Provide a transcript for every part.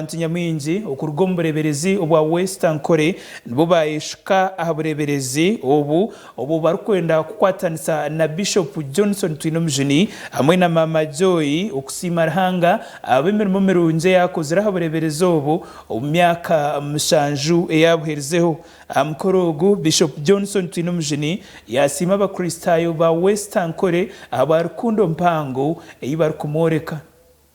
Abantu nyamwingi okuruga omu bureeberezi obwa West Ankole nibo baayeshuka aha bureeberezi obu, obu barikwenda kukwatanisa na Bishopu Johnson Twinomujuni hamwe na Maama Joy okusiima Ruhanga ahabw'emirimo mirungi eyaakozire aha bureeberezi obu omu myaka mushanju eyaabuherizeho. Aha mukoro ogu, Bishopu Johnson Twinomujuni yaasiima Abakristaayo ba West Ankole ahabwa rukundo mpango ei barikumworeka.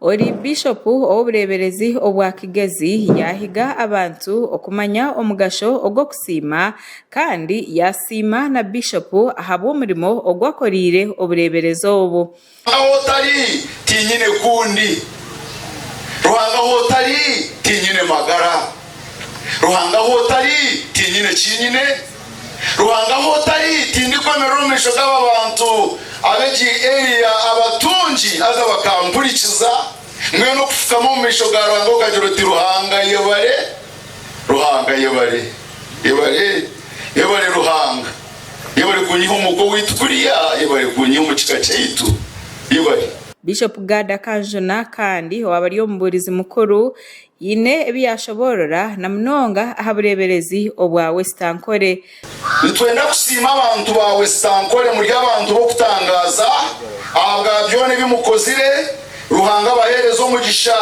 Ori Bishopu ow'obureeberezi obwa Kigezi yaahiga abantu okumanya omugasho ogw'okusiima kandi yaasiima na Bishopu ahabw'omurimo ogu akoreire obureeberezi obu. Ahu otari tiinyine kundi. Ruhanga ahu otari tiinyine magara. Ruhanga ahu otari, tinyine eki nyine. Ruhanga ahu otari, tindikwemerera omu maisho g'aba bantu ab'egi area abatungi haza bakampurikiza. Mbwenu okufukama omu maisho ga Ruhanga okagira oti, Ruhanga yebare, Ruhanga yebare, yebare, yebare Ruhanga, yebare kunyiha omwooka owaitu kuriya, yebare kunyiha omu kika kyaitu, yebare. Bishop Gad Kanjuna kandi owabari omubuurizi mukuru Haine ebi yaashoboorora na munonga aha bureeberezi obwa Wesitankore. Nitwenda kusiima abantu ba Wesitankore muri abantu b'okutangaaza ahabwa byona ebi mukozire, Ruhanga abaheereze omugisha.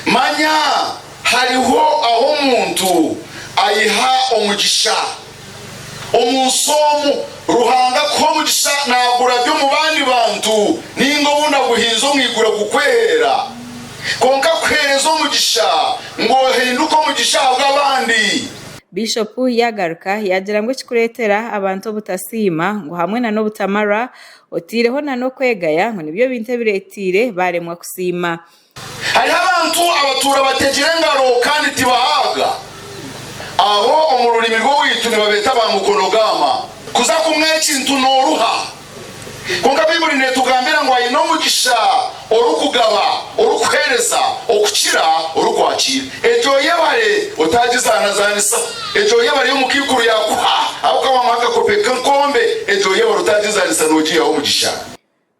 Manya hariho ahu omuntu aiha omugisha. Omu nsi omu, Ruhanga akuha omugisha naagurabya omu bandi bantu nainga obu naguhinze omu iguru akukweheera. Kwonka akuheereza omugisha ngu ohinduke omugisha ahabw'abandi. Bishopu yaagaruka yaagira ngu ekirikureetera abantu obutasiima ngu hamwe na n'obutamarwa, otaireho na n'okwegaya ngu nibyo bintu ebireeteire baaremwa kusiima. Hariho abantu abatuura bategire engaro kandi tibahabwa. Abo omu rurimi rw'owaitu nibabeeta ba mukono-gaama. Kuza kumwa ekintu nooruha. Kwonka Baibuli neetugambira ngu aine omugisha orikugaba, orikuheereza, okukira orikwakiira. Egyo yebare otaagizaanazaanisa. Egyo yebare ei omukaikuru yaakuha ahabw'okuba waamuha akakopo k'enkombe, egyo yebare otaagizaanisa noogiihaho omugisha.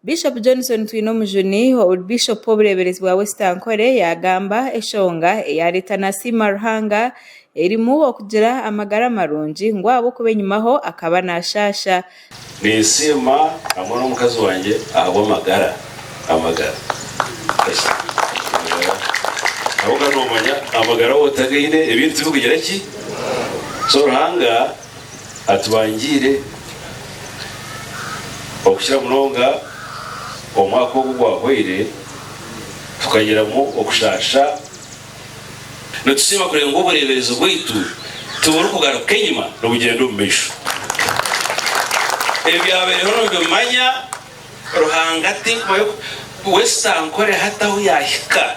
Bishop Johnson Twinomujuni, ouri Bishop w'obureeberezi bwa West Ankole yaagamba, Eshonga eyaareeta Nasiima Ruhanga erimu okugira amagara marungi ngu ahabw'okuba enyimaho akaba naashaasha. Ninsiima hamwe n'omukazi wangye ahabw'amagara, amagara, amagara, ahabw'okuba noomanya amagara waaba otagaine ebindi tibikugira ki? So Ruhanga. Atubangiire okukira munonga omwaka ogu gwahweire tukagiramu okushaasha. Nitusiima kureeba ngu obureeberezi bwaitu tiburikugaruka enyima nibugyenda omu maisho. Ebyabaireho nibimanya Ruhanga atarikubayo, Westa ankoreho ata ahu yaahika?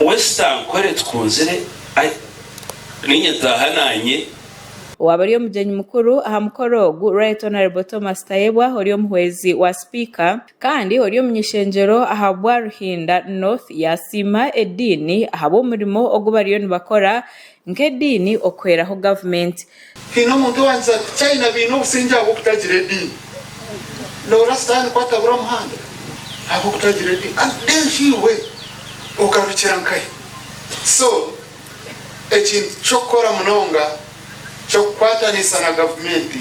Wesi tankore tukunzire ai ninye taaha nanye. Owaaba ari omugyenyi mukuru aha mukoro ogu Right Honourable Thomas Tayebwa ori omuhwezi wa Sipiika kandi ori omunyeshengyero aha bwa Ruhinda North yaasiima ediini ahabw'omurimo ogu bariyo nibakora Nk'ediini okuhweraho gavumenti. Haine omuntu owagize ati, China baine obusingye ahabw'okutagira ediini. Noora Sitaani ku atabura muhanda ahabw'okutagira ediini? Ati, Then iwe ogarukira nkahe? So, ekintu ky'okukora munonga ky'okukwataniisa na gavumenti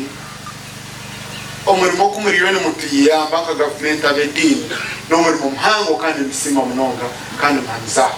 omurimo ogu muriyo nimutuyamba nka gavumenti ab'ediini n'omurimo muhango kandi nitusiima munonga kandi muhamize aho.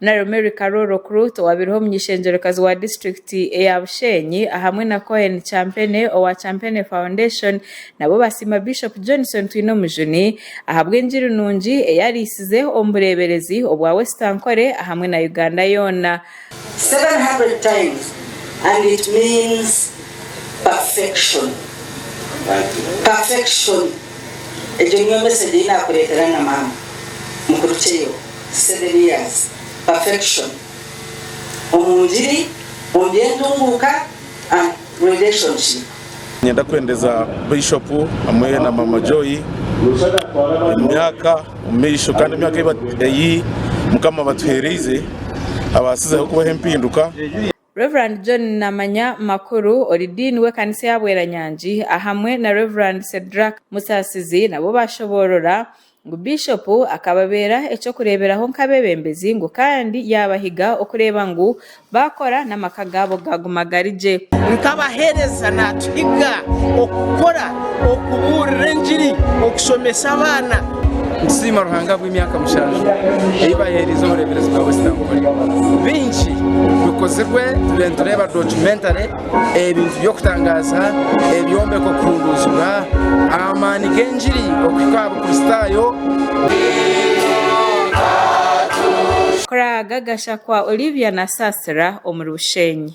Naro Mary Karoro Okurut owaabireho omuny'ishengyerekazi wa disiturikiti eya Busheenyi ahamwe na Cohen Champene owa Champene Foundation nabo basiima Bishop Johnson Twinomujuni ahabw'engiri nungi ei ariisize omu bureeberezi obwa West Ankole ahamwe na Uganda yoona. 700 times and it means perfection perfection. Egyo nyombesegye ei naakureetera na maama mukuru Cheyo, seven years, perfection omu ngiri, omu by'entunguuka and relationship. Niinyenda kuhendeza Bishop hamwe na Maama Joy omu myaka omumaisho kandi emyaka ei Mukama abatuheereize abaasizeho kubaho empinduka. Rev. John Namanya Makuru, ori Diini w'ekanisa eya Bweranyangi, ahamwe na Rev. Cedrack Musaasizi nabo baashoboorora ngu Biishopu akababeera eky'okureeberaho nk'abeebembezi ngu kandi yaabahiga okureeba ngu baakora n'amaka gaabo gaaguma gari gye. Nk'abaheereza naatuhiga okukora okubuurira engiri, okushomesa abaana. Nitusiima Ruhanga ahabw'emyaka mushanju ei baaheereize obureeberezi bwa Western Korea. Bingi bikozirwe turiyo nitureeba documentary, ebintu by'okutangaaza, ebyombeko kuhunduuzibwa, amaani g'engiri okuhika aha Bukristaayo. Kuraaga gashakwa Olivia na Sasira omuri Bushenyi.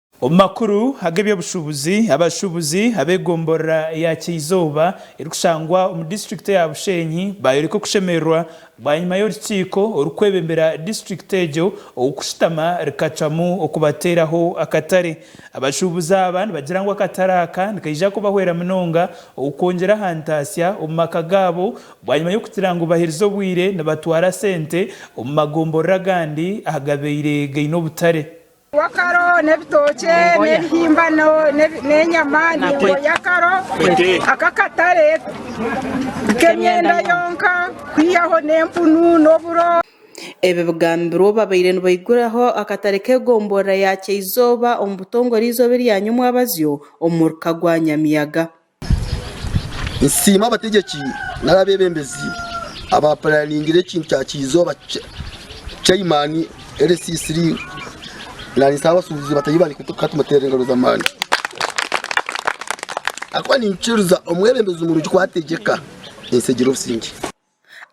Omu makuru ag'eby'obushuubuzi, abashuubuzi ab'egomborora ya Kyizooba erikushangwa omu disiturikiti eya Bushenyi baayoreka okushemererwa bwanyima y'orukiiko orukwebembera disiturikiti egyo okushutama rikacwamu okubateeraho akatare. Abashuubuzi aba nibagira ngu akatare aka nikaija kubahwera munonga okwongyera aha ntaasya omu maka gaabo bwanyima y'okugira ngu baherize obwire nibatwara sente omu magomborora agandi ahagabaire gaine obutare. Akaro n'ebitookye n'ebihimba n'enyama ningo y'akaro ak'akatare k'emyenda yonka kwihaho n'empunu n'oburo. Ebi bigambirwe babaire nibaiguraho akatare k'egombolola ya Kyaizooba omu butongore eizooba eryanywa omwabazyo omu muruka gwa Nyamiyaga. Nsiima abategyeki nari abeebembezi abaapuraningira ekintu kya Kyizooba Chairman LCC Link nari Saabasuubuzi bataahi bangye kukatuteera engaro z'amaani ahakuba ninkikiriza omwebembezi murungi ku ategyeka ensi egira obusingye.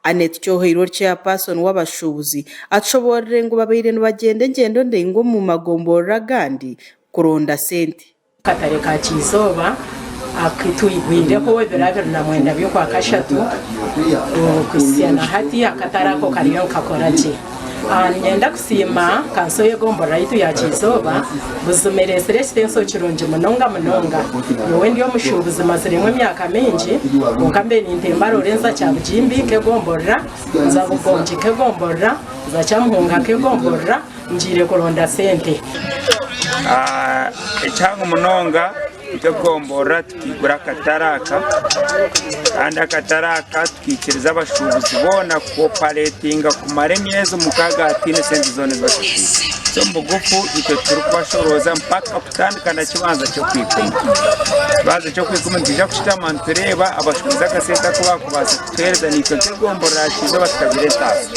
Annet Kyoheirwe ori Chairperson w'abashuubuzi atushoboorire ngu babaire nibagyenda engyendo ndaingwa omu magomborora agandi kuronda sente. Akatare ka Kyizooba aku twigwireho ebiro abiri na mwenda by'okwa kashatu, okuhitsya na hati akatare ako kariyo nikakora gye. Niinyenda kusiima kanso y'egomborora yaitu ya Kyizooba buzima ereetsire ekitensyo kirungi munonga munonga. Nyowe ndi omushuubuzi maziremu emyaka mingi kwonka mbe nintemba Rorenza Kyabugimbi nk'egomborora, nza Bugongi nk'egomborora, nza Kyamuhunga nk'egomborora ngiire kuronda sente. Ekyangu munonga nk'egomborora Tukaigura akatare aka kandi akatare aka tukaikiriza abashuubuzi boona kukoopareetinga kumara emyezi mukaaga hataine sente zoona ezi batusiire. So omu bugufu itwe turikubashoroza mpaka kutandika na kibanza ky'okwikumi. Ekibanza ky'okwikumi nitwija kushutama nitureeba abashuubuzi akasente aku baakubaasa kutuheereza naitwe nk'egombora yaakizooba tukagura entaasa.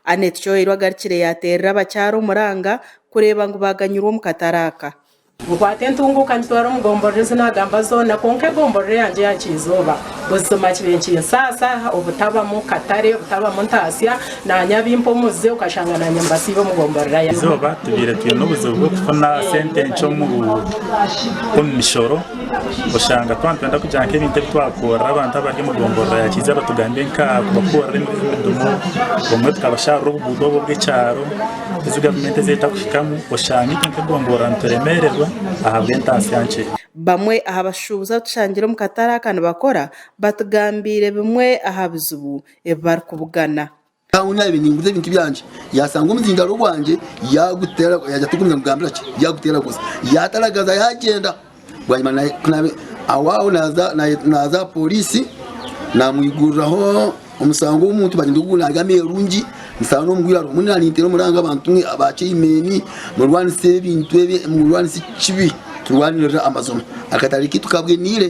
Annet Kyoeirwe agarukire yaateerera abakyara omuranga kureeba ngu baaganyirwa omu katare aka. Nkwata entunguuka ngitwara omu gomborora ezi naagamba zoona kwonka egomborora eyangye eya Kiizooba buzima kibe nikinsaasa obutabamu katare, obutabamu ntaasya, naanye abimpe omuze okashanga naanye mbasiibe omu gomborora yangye. Eizooba tubaire twine obuzibu bw'okufuna sente nkye omu mishoro oshanga twaba nitwenda kugira nk'ebintu ebi twakoorera abantu abari omu gomborora ya Kiizooba tugambe nka kubakoorera emidumu obumwe tukabashaarira obuguuto obwo obw'ekyaro Ezi gavumenti ez'etakuhikamu oshange itwe nk'egomboloora nituremeererwa ahabw'entaasya nkye. Bamwe aha bashuubuzi abu tushangire omu katare aka nibakora batugambiire bimwe aha bizibu ebi barikubugana. Nkaanye naabiire ninguza ebintu byangye yaashanga omuzindaaro gwangye yaaguteera, yaagira ati ogwo naamugambira ki? Yaaguteeraguza, yaataragaza yaagyenda. Bwanyima aho aho naaza aha pooriisi naamwiguriraho omusango w'omuntu bari ngu nari amerungi nshana omu irwariro mbwenu nari ninteera omuranga abantu ba chaimeni murwanise ebintu ebi murwanise ekibi turwanirire amazima akatare kaitu kaboniire.